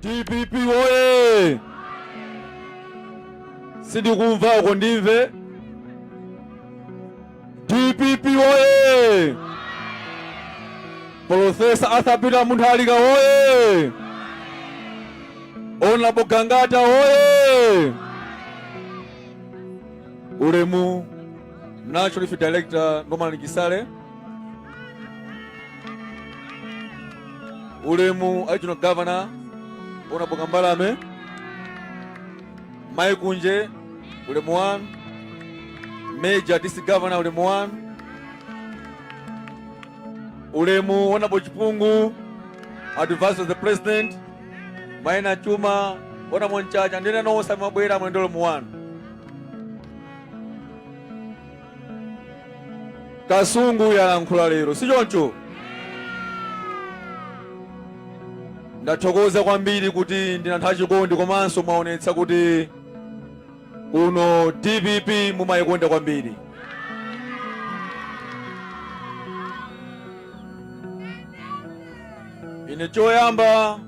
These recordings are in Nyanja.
dpp woye sindikumva uko ndimve dpp woye profesa arthur peter munthalika woye honorable gangata woye ulemu national Youth director norman kisale ulemu a regional governor honorable Kambalame mai Kunje ulemu 1 major district governor ulemu 1 ulemu honorable Chipungu advisor to the president maina chuma ona monchacha ndine nonse amabwera mwendo ulemu 1 Kasungu yalankhula lero, si choncho? Ndathokoza kwambiri kuti ndinu anthu achikondi komanso mwaonetsa kuti kuno dpp mumayikonda kwambiri. Ine choyamba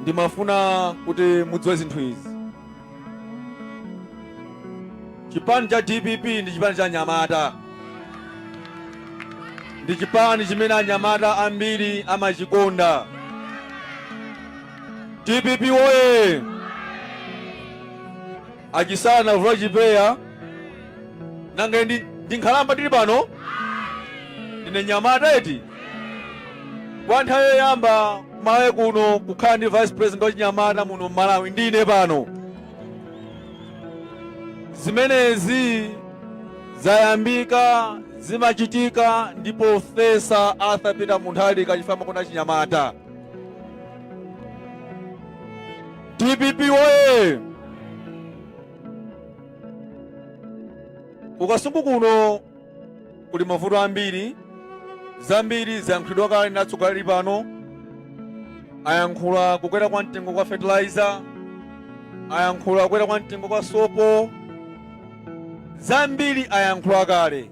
Ndimafuna kuti mudziwe zinthu izi. Chipani cha dpp ndi chipani cha anyamata. Ndi chipani chimene anyamata ambiri amachikonda. Dpp woye! A Chisale anavula chipeya nanga ine ndi- ndi nkhalamba ndili pano ndine mnyamata eti kwa nthawi yoyamba kumalawi kuno kukhala ndi vice president wachinyamata muno mmalawi ndine pano zimenezi zayambika zimachitika ndi Profesa Arthur Peter Muntharika chifukwa amakonda achinyamata dpp woye ku Kasungu kuno kuli mavuto ambiri zambiri zayankhulidwa kale ndi atsogoleri pano ayankhula kukwera kwa mtengo kwa fertilizer ayankhula kukwera kwa mtengo kwa sopo zambiri ayankhula kale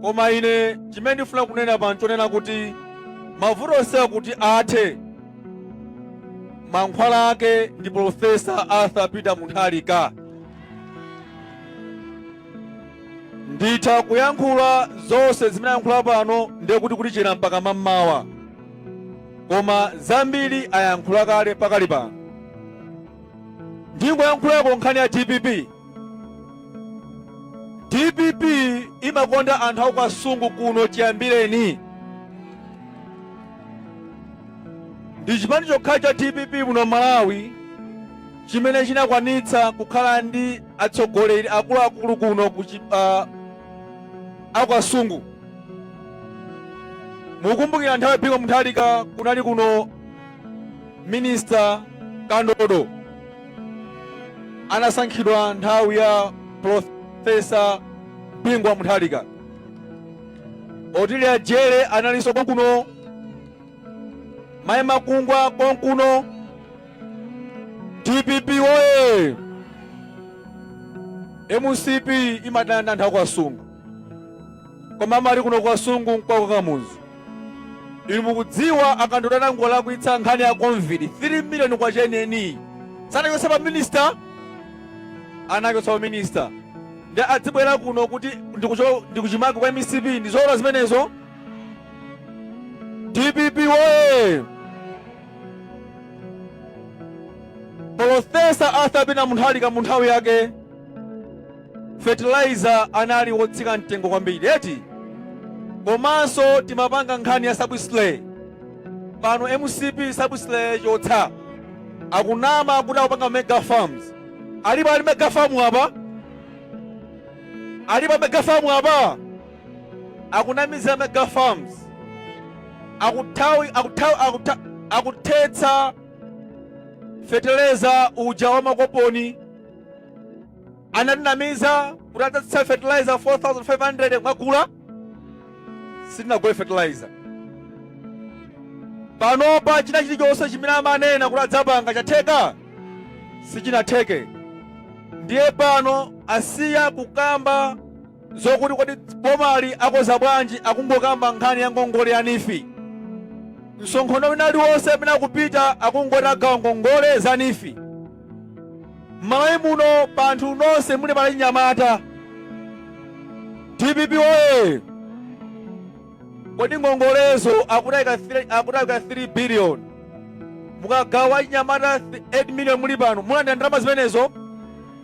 Koma ine chimene ndifuna kunena pano chonena kuti mavuto onsewa kuti athe, mankhwala ake ndi Profesa Arthur Peter Muntharika. Nditha kuyankhula zonse zimene ayankhula pano ndiye kuti kutichera mpaka mammawa, koma zambiri ayankhula kale pakali pano. Ndingoyankhulako nkhani ya dpp. dpp imakonda anthu aku Kasungu kuno chiyambireni ndi chipani chokha cha dpp muno malawi chimene chinakwanitsa kukhala ndi atsogoleri akuluakulu kuno ku chi- ah, aku Kasungu mukumbukira nthawi ya Bingu Muntharika kunali kuno minista Kandodo anasankhidwa nthawi ya Profesa Bingu wa Mutharika. Otilia Jere analinso konkuno, Mai Makungwa konkuno, DPP woye! MCP imadana nthawi kwa Kasungu. koma amati kuno ku kasungu nkwa kwa kamuzu inu mukudziwa a kandodo anangolakwitsa nkhani ya covid 3 miliyoni kwacha yeniyeni sanachotsa pa minista anachotsa pa minista ndi adzibwera kuno kuti ndi kuchimake kwa mcp ndi zoona zimenezo dpp woye polofesa arthur peter mutharika mu nthawi yake Fertilizer anali wotsika mtengo kwambiri eti komanso timapanga nkhani ya subsidy pano mcp subsidy chotsa akunama kuti akupanga mega farms alipo ali mega farm apa alipo mega farm apa akunamiza mega farms akuthetsa feteleza uja wa makoponi Anatinamiza kuti adzatsitsa fertilizer 4500 mwagula sitinagule fertilizer. Panopa china chilichonse chimene amanena kuti adzapanga chatheka sichinatheke. Ndiye pano asiya kukamba zokuti kodi bomali akoza bwanji akungokamba nkhani ya ngongole ya NEEF msonkhano wina uliwonse amene akupita akungoti agawa ngongole za NEEF Mmalawi muno pa anthu nonse muli achinyamata dpp oye! Kodi ngongolezo akuti aika 3 billion mukagawa achinyamata 8 million muli pano mulandira ndalama zimenezo?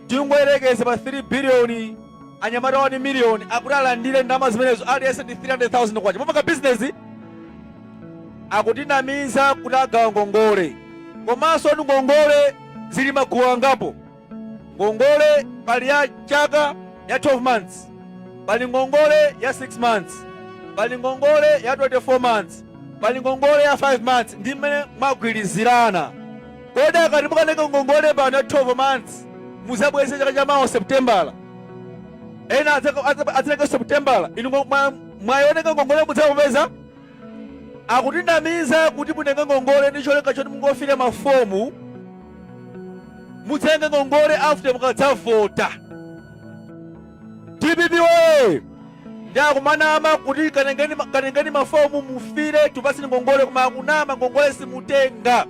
Tingoyerekeze pa 3 billion anyamata 1 million akuti alandire ndalama zimenezo aliyense ndi 300,000 kwacha mupanga bizinesi. akutinamiza kuti agawa ngongole komanso ndi ngongole zili magulu angapo ngongole pali ya chaka ya 12 months pali ngongole ya 6 months pali ngongole ya 24 months pali ngongole ya 5 months ndi mmene mwagwirizirana kodi akati mukaneka ngongole pano ya 12 months mudzabweze chaka cha mawa septembala ena adzaleka septembala inu mwayoneka ngongole mudzamupeza akutinamiza kuti mutenge ngongole ndi cholinga choti mungofila mafomu mudzatenge ngongole after mukadzavota dpp woye ndi akumanama kuti katengeni mafomu mufile tikupatseni ngongole koma akunama ngongole simutenga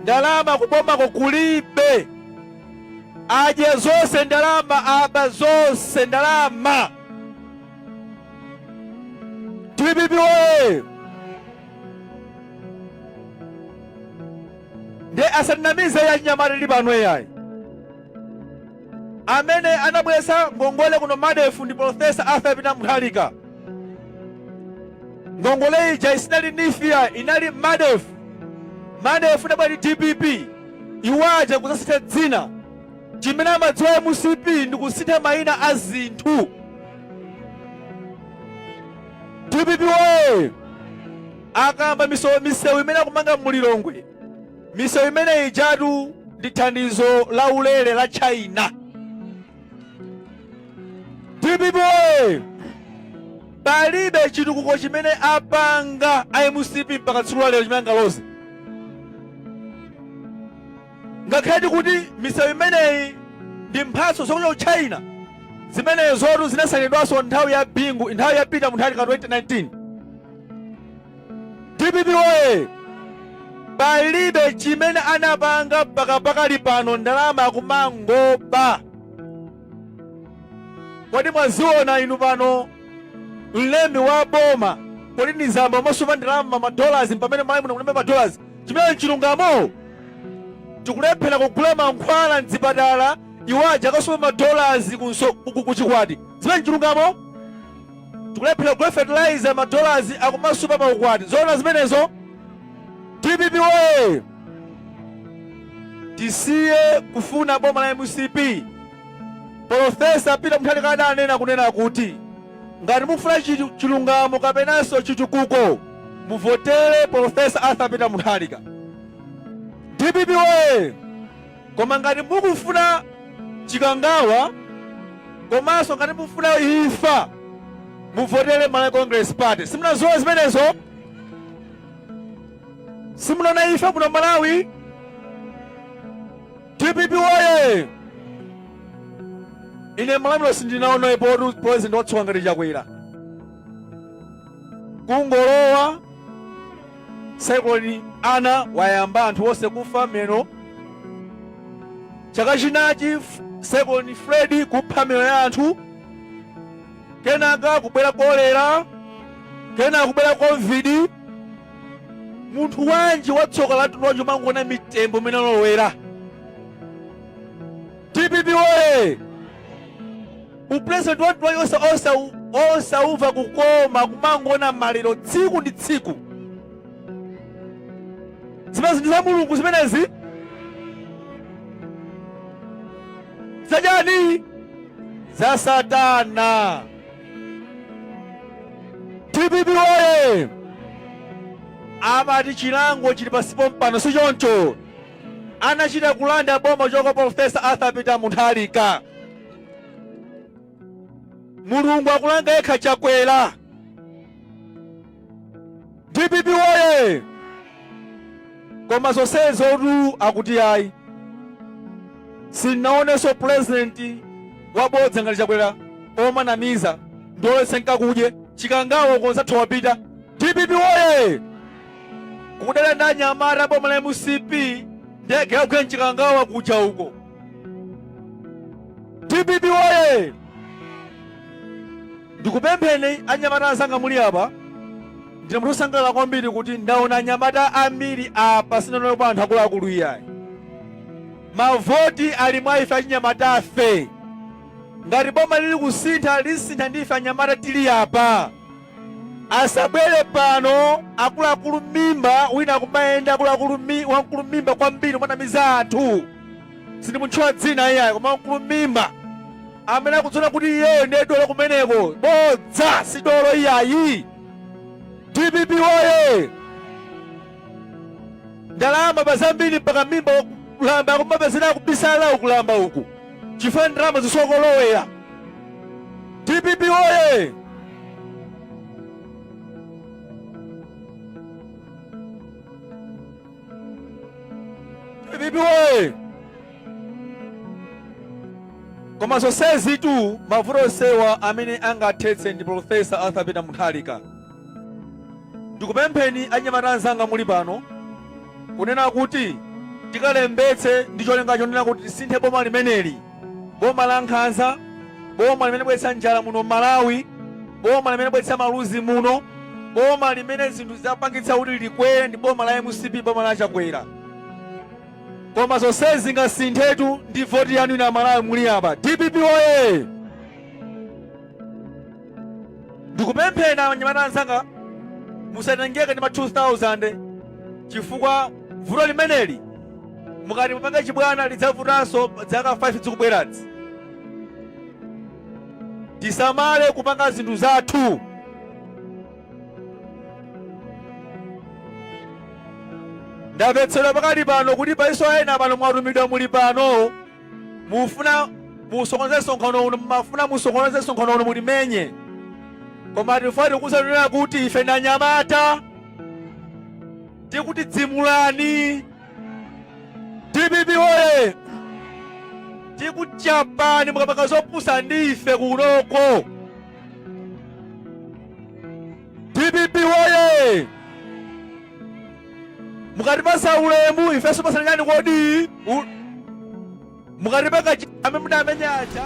ndalama kubomako kulibe adya zonse ndalama aba zonse ndalama Dpp woye! Nde asatinamize achinyamata tili pano iyayi. Amene anabwesa ngongole kuno MARDEF ndi Professor Arthur Peter Mutharika. Ngongole ija isinali NEEF ayi inali MARDEF. MARDEF inabwera ndi DPP. Iwo aja kuzasintha dzina. Chimene amadziwa mcp ndi kusintha mayina a zinthu. Dpp woye! Akamba misewu imene akumanga mu Lilongwe, misewu imene ijatu ndi thandizo la ulere la China. Dpp woye! Palibe chitukuko chimene apanga a mcp mpaka tsiku la lero chimene angaloze. Ngakhaletu kuti misewu imeneyi ndi mphatso zochokera ku China, zimenezotu zinasainidwanso nthawi ya Bingu, nthawi ya Peter Mutharika 2019. Dpp woye! Palibe chimene anapanga mpaka pakali pano, ndalama akumangoba. Kodi mwaziona inu pano mlembi wa boma Colleen Zamba kumasupa ndalama madollars pamene Malawi muno kulibe madollars Chimene nchilungamo, tikulephera kugula mankhwala mzipatala iwo aja akasupa ma dollars ku chikwati. Zimene nchilungamo? Tikulephera kugula fertilizer ma dollars akumasupa pa ukwati. Zoona zimenezo? Dpp woye! Tisiye kufuna boma la mcp. Polofesa Peter Mutharika adanena kunena kuti. Ngati mufuna chilungamo kapenanso chitukuko muvotele Prof. Arthur Peter Mutharika. Dpp woyee! Koma ngati mukufuna chikangawa komanso ngati mukufuna imfa muvotele Malawi Congress Party. Simunazione zimenezo? Simunaona imfa kuno Malawi? dpp woye ine malamulo sindinaonepo president watsoka ngati chakwera kungolowa saikuloni ana wayamba anthu onse kufa mmenemo chaka chinachi saikuloni fredi kupha miyoyo ya anthu kenaka kubwera kolera kenaka kubwera covid munthu wanji watsoka lamtundu wanji kumangoona mitembo mmene alowera dpp woye upresident wamtundu wanji osa- osa- osauva kukoma kumangoona maliro tsiku ndi tsiku zimenezi ndi za mulungu zimenezi zayani za satana dpp oye amati chilango chili pansi pompano si choncho anachita kulanda boma cha kwa profesa arthur peter munthalika mulungu akulanga yekha chakwera dpp woye koma zonsezotu akuti ayi sinaonenso pulezidenti wabodza ngati chakwera omanamiza ndiulese nkakudye chikangawa konzatha wapita dpp woye kudana ndi anyamata boma la mcp ndege yagwe mchikangawa kuja uko dpp woye Ndikupempheni anyamata anzanga muli apa, ndine munthu osangalala kwambiri kuti ndaona anyamata ambiri apa sindinaonepo anthu akuluakulu iyayi. Mavoti ali mwa ife achinyamatafe. Ngati boma lili kusintha lisintha ndi ife anyamata tili apa. Asabwere pano akuluakulu mimba wina akumayenda wamkulu mimba kwambiri kumanamiza anthu. sindimutchula dzina iyayi koma mkulu mimba amene akudziona kuti iyeyo ndiye dolo kumeneko bodza si dolo iyayi dpp woye ndalama waba zambiri mpaka mimba kukalamba kumapezeka akubisala ukalamba uku chifukwa ndalama zisokolowera dpp woye DPP woye! Koma zonsezitu mavuto onsewa amene angathetse ndi Profesa Arthur Peter Mutharika. Ndikupempheni anyamata anzanga muli pano kunena kuti tikalembetse ndi cholinga chonena kuti tisinthe boma limeneli. Boma la nkhanza, boma limene labweretsa njala muno Malawi, boma limene labweretsa maluzi muno, boma limene zinthu zapangitsa kuti zikwere ndi boma la mcp, boma la Chakwera. Koma zonsezi zingasinthetu ndi voti yanu inu aMalawi muli apa. DPP oye! ndikupempheni anyamata anzanga musatengeke ndi ma 2000 chifukwa vuto limeneli mukati mupange chibwana lidzavutanso zaka 5 zikubwerazi tisamale kupanga zinthu zathu ndamvetsedwa pakali pano kuti paliso ena pano mwatumidwa muli pano mufuna musokoneze msonkhano uno mumafuna musokoneze msonkhano uno mulimenye koma tifuna tikutsimikizireni kuti ife anyamata tikuthidzimulani dpp oye tikuchapani mukapanga zopusa ndi ife kunoko dpp woye mukatipatsa ulemu ifeso tipatsanani kodi U- mukatipanga chi- amene mudamenya aja